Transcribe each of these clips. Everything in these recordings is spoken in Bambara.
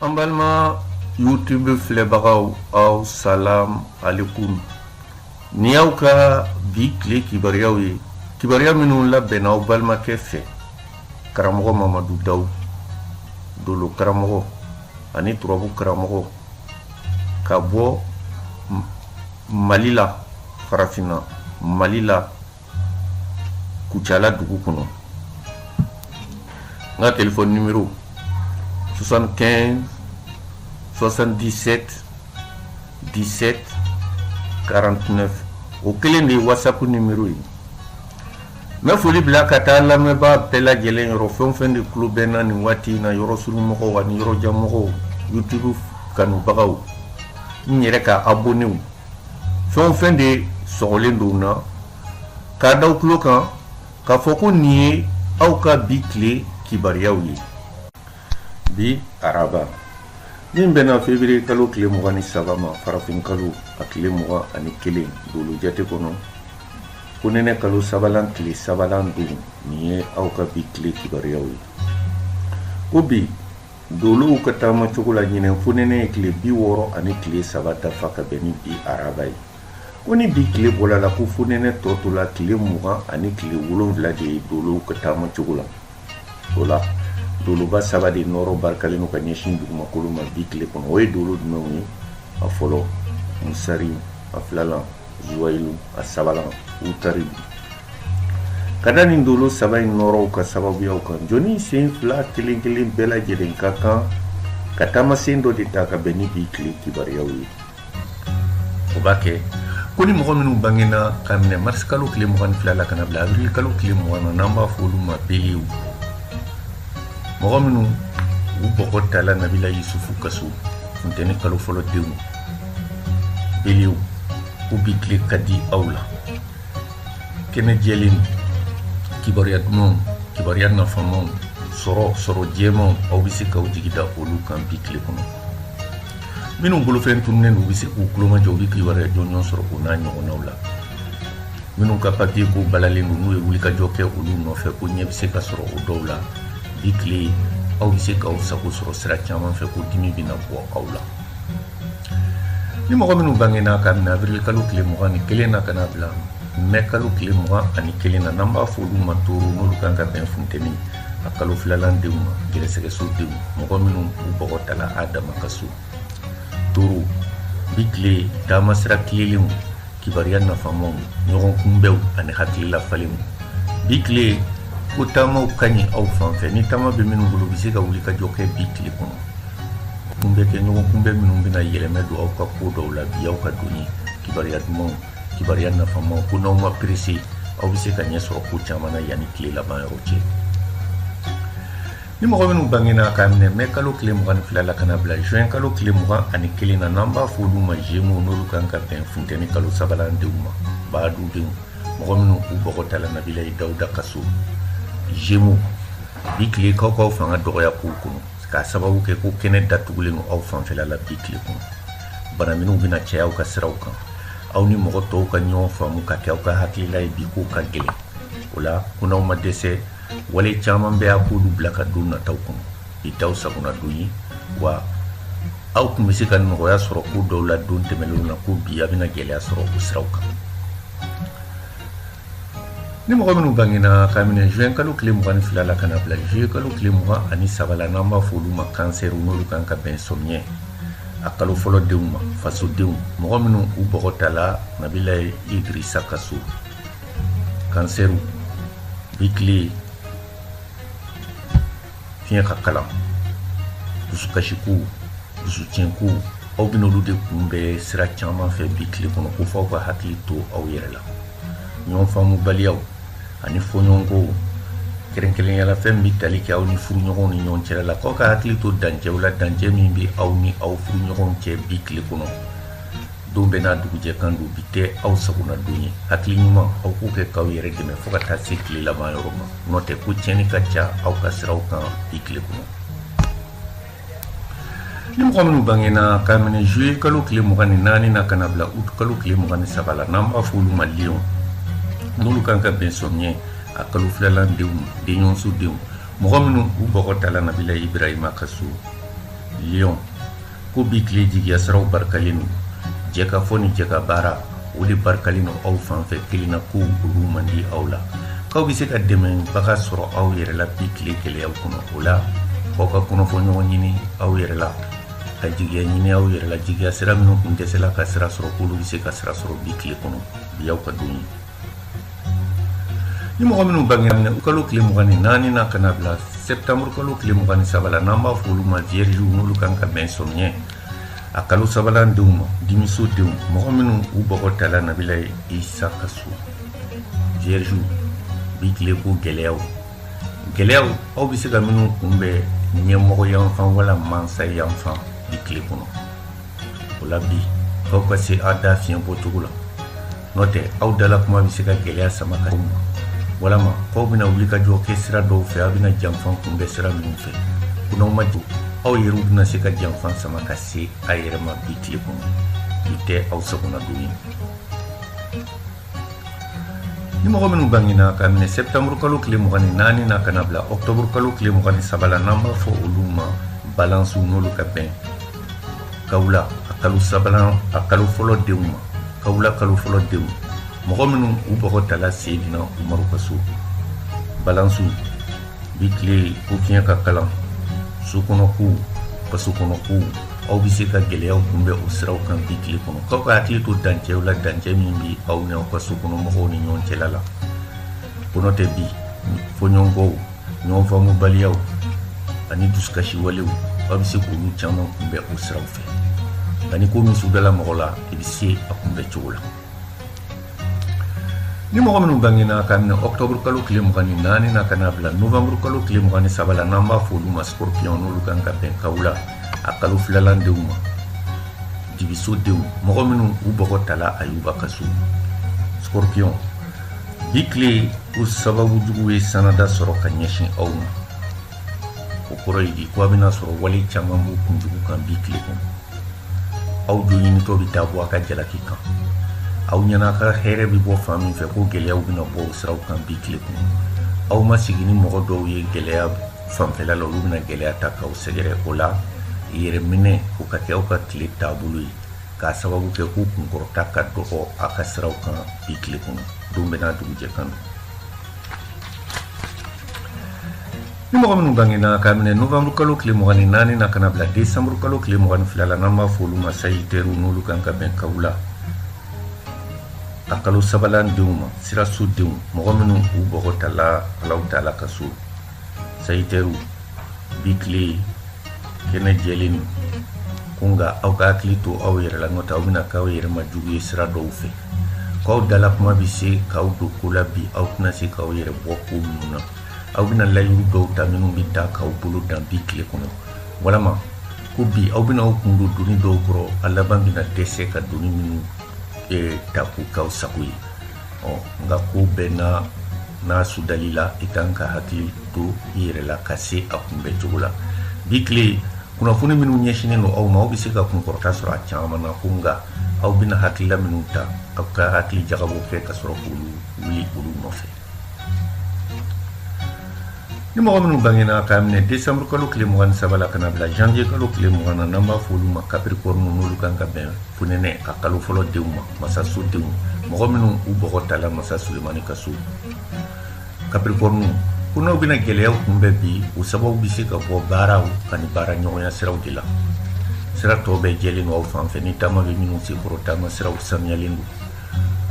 an balima youtube filɛbagaw aw salam alikum nin y'aw ka bi tile kibaruyaw ye kibaruya minnu labɛnna aw balimakɛ fɛ karamɔgɔ mamadu daw dolo karamɔgɔ ani turabu karamɔgɔ ka bɔ mali la farafinna mali la kucala dugu kɔnɔ n ka telefɔni nimero 75 77 17 49 o kelen de ye whatsapp nimero ye n bɛ foli bila ka taa lamɛnbaa bɛɛ lajɛlen yɔrɔ fɛn o fɛn de tulo bɛ n na nin waati in na yɔrɔsurunmɔgɔw ani yɔrɔjanmɔgɔw youtube kanubagaw n yɛrɛ ka abonew fɛn o fɛn de sɔgɔlen don n na k'a d'aw tulo kan k'a fɔ ko nin ye aw ka bi tile kibariyaw ye bi araba min bɛnna fevriye kalo tile mugan ni saba ma farafinkalo a tile mugan ani kelen dolo jate kɔnɔ ko nɛnɛ kalo sabalan tile sabalan don nin ye aw ka bi tile kibariyaw ye ko bi Dolow ka taama cogo la ɲinɛ fonɛnɛ ye tile biwɔɔrɔ ani tile saba dafa ka bɛn ni bi araba ye ko ni bi tile bɔla la ko fonɛnɛ tɔ tola tile mugan ani tile wolonwula de ye dolow ka taama cogo la o la doloba saba de nɔɔrɔ barikalen don ka ɲɛsin dugumakolo ma bi tile kɔnɔ o ye dolo jumɛnw ye a fɔlɔ musari a filalan zuwayilu a sabalan utari ka da nin dolo saba in nɔɔrɔw ka sababuyaw kan jɔnnin sen fila kelen kelen bɛɛ lajɛlen ka kan ka taamasen dɔ de ta ka bɛn ni bi tile kibaruyaw ye o b'a kɛ ko ni mɔgɔ minnu bangena ka minɛ marisi kalo tile mugan ni fila la ka na bila awirili kalo tile mugan na n'an b'a fɔ olu ma belew mɔgɔ minnu u bɔgɔ tala nabila yusufu ka so funteni kalo fɔlɔ denw Belew ko bi tile ka di aw la kɛnɛ jɛlen kibaruya dumanw kibaruya nafamaw sɔrɔ sɔrɔ jɛmaw aw bɛ se k'aw jigi da olu kan bi tile kɔnɔ minnu bolofɛn tununnen don u bɛ se k'u kulomajɔ u bɛ kibaruya jɔnjɔn sɔrɔ o n'a ɲɔgɔnnaw la minnu ka papiye ko balalen don n'u ye wulikajɔ kɛ olu nɔfɛ ko ɲɛ bɛ se ka sɔrɔ o dɔw la bi tile aw bɛ se k'aw sago sɔrɔ sira caman fɛ ko dimi bɛna bɔ aw la ni mɔgɔ minnu bangena ka minɛ awirili kalo tile mugan ni kelen na ka na bila mɛ kalo tile mugan ani kelen na n'an b'a fɔ olu ma toro n'olu kan ka bɛn funteni a kalo filalan denw ma gɛrɛsɛgɛso denw mɔgɔ minnu u bɔgɔ tala adama ka so toro bi tile taama sira tilelenw kibaruya nafamaw ɲɔgɔn kunbɛnw ani hakilila falenw bi tile ko taamaw ka ɲi aw fan fɛ ni taama bɛ minnu bolo u bɛ se ka wuli ka jɔ kɛ bi tile kɔnɔ k'u bɛ kɛ ɲɔgɔn kunbɛn minnu bɛna yɛlɛma don aw ka ko dɔw la bi y'aw ka don ye kibaruya dumanw kibaruya nafamaw ko n'aw ma perese aw bɛ se ka ɲɛ sɔrɔ ko caman na yanni tile laban yɔrɔ cɛ Ni mɔgɔ minnu bangena k'a minɛ mɛ kalo tile mugan ni fila la ka na bila juin kalo tile mugan ani kelen na n'an b'a fɔ olu ma gémeaux n'olu kan ka bɛn funteni kalo sabanan denw ma badudenw mɔgɔ minnu u bɔgɔ tala nabilayi dawuda ka so gémeaux bi tile k'aw fanga dɔgɔya kow kɔnɔ k'a sababu kɛ ko kɛnɛ datugulen aw fanfɛla la bi tile kɔnɔ bana minnu bɛna caya aw ka siraw kan aw ni mɔgɔ tɔw ka ɲɔgɔn faamu ka kɛ aw ka hakilila ye bi ko ka gɛlɛn o la ko n'aw ma dɛsɛ wale caman bɛɛ a k'olu bila ka don nataw kɔnɔ bi t'aw sagona don ye wa aw tun bɛ se ka nɔgɔya sɔrɔ ko dɔw la don tɛmɛnenw na ko bi a bɛna gɛlɛya sɔrɔ o siraw kan ni mɔgɔ minnu bangena k'a minɛ juin kalo tile mugan ni fila la ka na bila juillet kalo tile mugan ani saba la n'an b'a fɔ olu ma cancer n'olu kan ka bɛn sɔmiɲɛ a kalo fɔlɔ denw ma fasodenw mɔgɔ minnu u bɔgɔ tala nabilayi idirisa ka so cancer bi tile fiɲɛ ka kalan dusukasikow dusutiɲɛkow aw bɛn'olu de kunbɛn sira caman fɛ bi tile kɔnɔ ko fɔ aw ka hakili to aw yɛrɛ la ɲɔgɔn faamubaliyaw ani fɔɲɔgɔnkow kɛrɛnkɛrɛnnenya la fɛn min bɛ tali kɛ aw ni furuɲɔgɔnw ni ɲɔgɔn cɛla la k'aw ka hakili to dancɛw la dancɛ min bɛ aw ni aw furuɲɔgɔnw cɛ bi tile kɔnɔ don bɛɛ n'a dugujɛ kan don bi tɛ aw sagona don ye hakili ɲuman aw k'o kɛ k'aw yɛrɛ dɛmɛ fo ka taa se tile laban yɔrɔ ma n'o tɛ ko tiɲɛni ka ca aw ka siraw kan bi tile kɔnɔ ni mɔgɔ minnu bangena k'a minɛ juillet kalo tile mugan ni naani na ka na bila août kalo tile mugan ni saba la n'an b'a fɔ olu ma lion n'olu kan ka bɛn sɔmiɲɛ a kalo filalan denw denɲɔgɔnso denw mɔgɔ minnu u bɔgɔ tala nabila ibrahima ka so lion ko bi tile jigiyasiraw barikalen don jɛkafɔ ni jɛkabaara o de barikalen don aw fan fɛ kelenna kow olu man di aw la k'aw bɛ se ka dɛmɛbaga sɔrɔ aw yɛrɛ la bi tile gɛlɛyaw kɔnɔ o la f'aw ka kɔnɔfɔɲɔgɔn ɲini aw yɛrɛ la ka jigiya ɲini aw yɛrɛ la jigiya sira minnu kun dɛsɛla ka sira sɔrɔ k'olu bɛ se ka sira sɔrɔ bi tile kɔnɔ bi y'aw ka don ye Ni mɔgɔ minnu bangena kalo tile mugan ni naani na ka na bila septembre kalo tile mugan ni saba la n'an b'a fɔ olu ma vierge n'olu kan ka bɛn sɔmiɲɛ a kalo sabanan denw ma dimiso denw mɔgɔ minnu u bɔgɔ tala nabilayi isa ka so vierge bi tile ko gɛlɛyaw gɛlɛyaw aw bɛ se ka minnu kunbɛn ɲɛmɔgɔ yanfan wala mansa yanfan bi tile kɔnɔ o la bi aw ka se aw da fiɲɛ bɔcogo la n'o tɛ aw dala kuma bɛ se ka gɛlɛya sama ka ma walama k'aw bɛna wuli ka jɔ kɛ sira dɔw fɛ aw bɛna janfa kunbɛn sira minnu fɛ ko n'aw ma jɔ aw yɛrɛ bɛna se ka janfa sama ka se a yɛrɛ ma bi tile kɔnɔ bi tɛ aw sagona don ye ni mɔgɔ minnu bangena ka minɛ septembre kalo tile mugan ni naani na ka na bila octobre kalo tile mugan ni saba la n'an b'a fɔ olu ma balansiw n'olu ka bɛn kawula a kalo sabanan a kalo fɔlɔ denw ma kawula kalo fɔlɔ denw mɔgɔ minnu u bɔgɔ tala seyidina umaru ka so balansiw bi tile ko fiɲɛ ka kalan so kɔnɔ kow faso kɔnɔ kow aw bɛ se ka gɛlɛyaw kunbɛn o siraw kan bi tile kɔnɔ k'aw ka hakili to dancɛw la dancɛ min bɛ aw ni aw ka so kɔnɔ mɔgɔw ni ɲɔgɔn cɛla la ko n'o tɛ bi fɔɲɔgɔnkɔw ɲɔgɔn faamubaliyaw ani dusukasi walew aw bɛ se k'olu caman kunbɛn o siraw fɛ nka ni ko min sudala mɔgɔ la i bɛ se a kunbɛn cogo la ni mɔgɔ minnu bangena ka minɛ ɔktɔburu kalo tile mugan ni naani na ka na bila novanburu kalo tile mugan ni saba la n'an b'a fɔ olu ma scorpion n'olu kan ka bɛn kawula a kalo filanan denw ma jigiso denw mɔgɔ minnu u bɔgɔ tala ayuba ka so scorpion bi tile ko sababu jugu ye sanada sɔrɔ ka ɲɛsin aw ma o kɔrɔ ye di ko a bɛna sɔrɔ wale caman b'u kunjugu kan bi tile kɔnɔ aw jo ɲinitɔ bɛ taa bɔ a ka jalaki kan aw ɲɛna a ka hɛrɛ bɛ bɔ fan min fɛ ko gɛlɛyaw bɛna bɔ o siraw kan bi tile kɔnɔ aw ma sigi ni mɔgɔ dɔw ye gɛlɛya fanfɛla la olu bɛna gɛlɛya ta k'aw sɛgɛrɛ o la yɛrɛminɛ o ka kɛ aw ka tile taabolo ye k'a sababu kɛ ko kunkɔrɔta ka dɔgɔ a ka siraw kan bi tile kɔnɔ don bɛɛ n'a dugujɛ kan don ni mɔgɔ minnu bangena k'a minɛ novembre kalo tile mugan ni naani na ka na bila décembre kalo tile mugan ni fila la n'an b'a fɔ olu ma sagiteriw n'olu kan ka bɛn kawula a kalo sabanan denw ma siraso denw mɔgɔ minnu u bɔgɔ tala alahu taala ka so sagiteriw bi tile kɛnɛ jɛlen don ko nka aw ka hakili to aw yɛrɛ la n'o tɛ aw bɛna k'aw yɛrɛ ma jugu ye sira dɔw fɛ k'aw dala kuma bɛ se k'aw don ko la bi aw tɛna se k'aw yɛrɛ bɔ ko minnu na aw bɛna layiru dɔw ta minnu bɛ taa k'aw bolo dan bi tile kɔnɔ walama ko bi aw bɛna aw kun don doni dɔw kɔrɔ a laban bɛna dɛsɛ ka doni minnu eh, ta k'u k'aw sago ye nka ko bɛɛ n'a sudali la i kan ka hakili to i yɛrɛ la ka se a kunbɛn cogo la bi tile kunnafoni minnu ɲɛsinnen don aw ma aw bɛ se ka kunkɔrɔta sɔrɔ a caman na ko nka aw bɛna hakilila minnu ta aw ka hakili jagabɔ kɛ ka sɔrɔ k'olu wuli olu nɔfɛ ni mɔgɔ minnu bangena k'a minɛ décembre kalo tile mugan ni saba la ka na bila janvier kalo tile mugan na n'an b'a fɔ olu ma capricorne n'olu kan ka bɛn fonɛnɛ a kalo fɔlɔ denw ma masaso denw mɔgɔ minnu u bɔgɔ tala masa sulemani ka so capricorne ko n'aw bɛna gɛlɛyaw kunbɛn bi o sababu bɛ se ka bɔ baaraw ani baara ɲɔgɔnya siraw de la sira tɔw bɛɛ jɛlen don aw fan fɛ ni taama bɛ minnu senkɔrɔ taama siraw sanuyalen don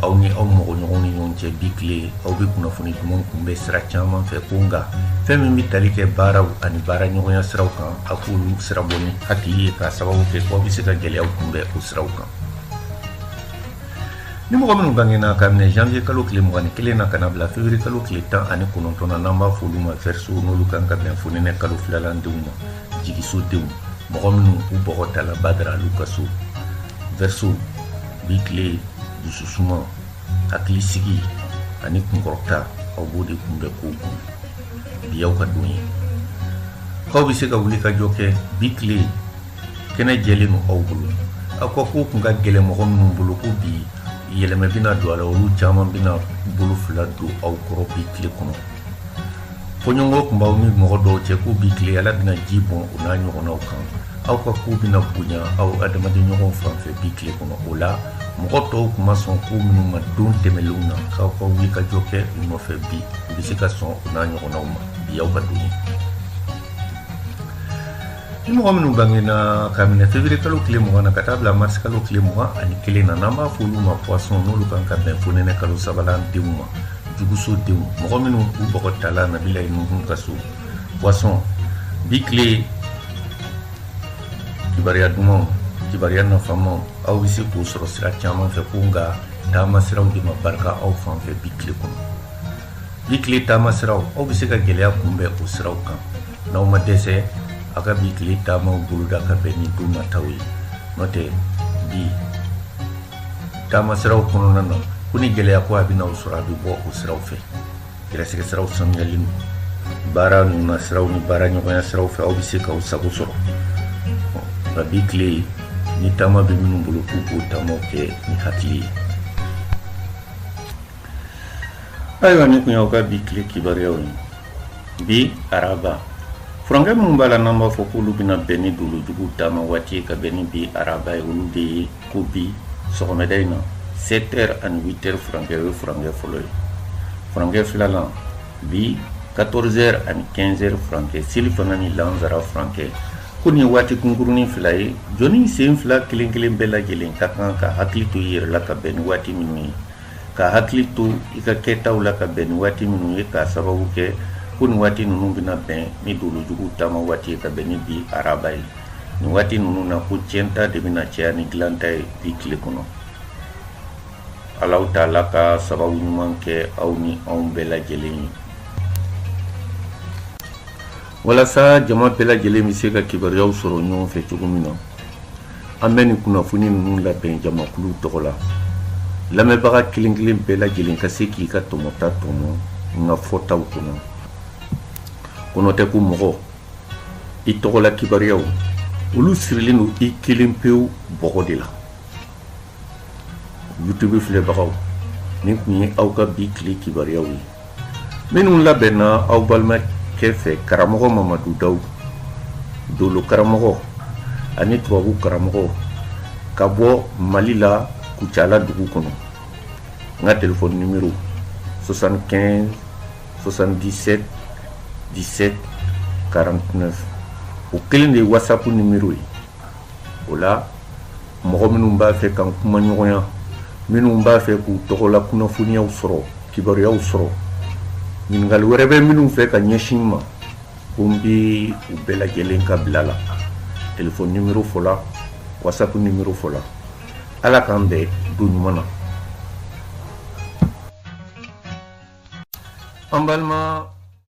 aw ni aw mɔgɔɲɔgɔnw ni ɲɔgɔn cɛ bi tile aw bɛ kunnafoni dumanw kunbɛn sira caman fɛ ko nka fɛn min bɛ tali kɛ baaraw ani baara ɲɔgɔnya siraw kan a k'olu sirabɔ ni hakili ye k'a sababu kɛ ko aw bɛ se ka gɛlɛyaw kunbɛn o siraw kan Ni mɔgɔ minnu bangena k'a minɛ janvier kalo tile mugan ni kelen na ka bila février kalo tile tan ani kɔnɔntɔn na n'an b'a fɔ olu ma verseau n'olu kan ka bɛn fonɛnɛ kalo filanan denw ma jigiso denw mɔgɔ minnu u bɔgɔ tala badara alu ka so verseau bi tile dusu suma hakili sigi ani kunkɔrɔta aw b'o de kunbɛn kow kɔnɔ bi y'aw ka don ye k'aw bɛ se ka wulikajɔ kɛ bi tile kɛnɛ jɛlen don aw bolo aw ka ko tun ka gɛlɛn mɔgɔ minnu bolo ko bi yɛlɛmɛ bɛna don a la olu caman bɛna bolo fila don aw kɔrɔ bi tile kɔnɔ fɔɲɔgɔnkɔ tun b'aw ni mɔgɔ dɔw cɛ ko bi tile ala bɛna ji bɔn o n'a ɲɔgɔnnaw kan aw ka ko bɛna bonya aw adamaden ɲɔgɔn fan fɛ bi tile kɔnɔ o la mɔgɔ tɔw tun ma sɔn ko minnu ma don tɛmɛlenw na k'aw ka wulikajɔ kɛ u nɔfɛ bi u bɛ se ka sɔn o n'a ɲɔgɔnnaw ma bi y'aw ka don ye Ni mɔgɔ minnu bangena k'a minɛ février kalo tile mugan na ka taa bila mars kalo tile mugan ani kelen na n'an b'a fɔ olu ma poisson n'olu kan ka bɛn fonɛnɛ kalo sabanan denw ma juguso denw mɔgɔ minnu u bɔgɔ tala nabilayi nuhun ka so poisson bi tile kibaruya dumanw kibaruya nafamaw aw bɛ se k'o sɔrɔ sira caman fɛ ko nka taama siraw de ma barika aw fan fɛ bi tile kɔnɔ Bi tile taama sira aw bɛ se ka gɛlɛya kunbɛn o siraw kan n'aw ma dɛsɛ aw ka bi tile taama boloda ka bɛn ni don nata ye n'o tɛ bi taama siraw kɔnɔna na ko ni gɛlɛya ko a bɛna aw sɔrɔ a bɛ bɔ o siraw fɛ gɛrɛsɛgɛ siraw sanuyalen don baara ɲinini siraw ni baara ɲɔgɔnya siraw fɛ aw bɛ se k'aw sago sɔrɔ nka bi tile ni taama bɛ minnu bolo k'u k'o taamaw kɛ ni hakili ye ayiwa nin tun y'aw ka bi tile kibaruyaw ye bi araba furankɛ minnu b'a la n'an b'a fɔ k'olu bɛna bɛn ni dolojugu taama waati ye ka bɛn ni bi araba ye olu de ye ko bi sɔgɔmada in na 7 heures ani 8 heures furankɛ o ye furankɛ fɔlɔ ye furankɛ filanan bi 14 heures ani 15 heures furankɛ selifana ni lansara furankɛ ko nin ye waati kunkurunin fila ye jɔnnin sen fila kelen kelen bɛɛ lajɛlen ka kan ka hakili to i yɛrɛ la ka bɛn ni waati minnu ye ka hakili to i ka kɛtaw la ka bɛn ni waati minnu ye k'a sababu kɛ ko nin waati ninnu bɛna bɛn ni dolojugu taama waati ye ka bɛn ni bi araba ye nin waati ninnu na ko tiɲɛta de bɛna caya ni dilanta ye bi tile kɔnɔ alahu taala ka sababu ɲuman kɛ aw ni anw bɛɛ lajɛlen ye walasa jama bɛɛ lajɛlen bɛ se ka kibaruyaw sɔrɔ ɲɔgɔn fɛ cogo min na an bɛ nin kunnafoni ninnu labɛn jamakulu tɔgɔ la lamɛnbaga kelenkelen bɛɛ lajɛlen ka se k'i ka tɔmɔta tɔmɔ n ka fɔtaw kɔnɔ ko n'o tɛ ko mɔgɔ i tɔgɔla kibaruyaw olu sirilen don i kelen pewu bɔgɔ de la youtube filɛbagaw nin tun ye aw ka bi tile kibaruyaw ye minnu labɛnna aw balimakɛ fɛ karamɔgɔ mamadu daw dolo karamɔgɔ ani turabu karamɔgɔ ka bɔ mali la kucala dugu kɔnɔ n ka telefɔni nimero 75 77 17 49 o kelen de ye whatsapp nimero ye o la mɔgɔ minnu b'a fɛ ka n kuma ɲɔgɔnya minnu b'a fɛ k'u tɔgɔla kunnafoniyaw sɔrɔ kibaruyaw sɔrɔ ɲininkali wɛrɛ bɛ minnu fɛ ka ɲɛsin n ma ko n bɛ u bɛɛ lajɛlen ka bila la telefɔni nimero fɔla wasapu nimero fɔla ala k'an bɛn don ɲuman na an balima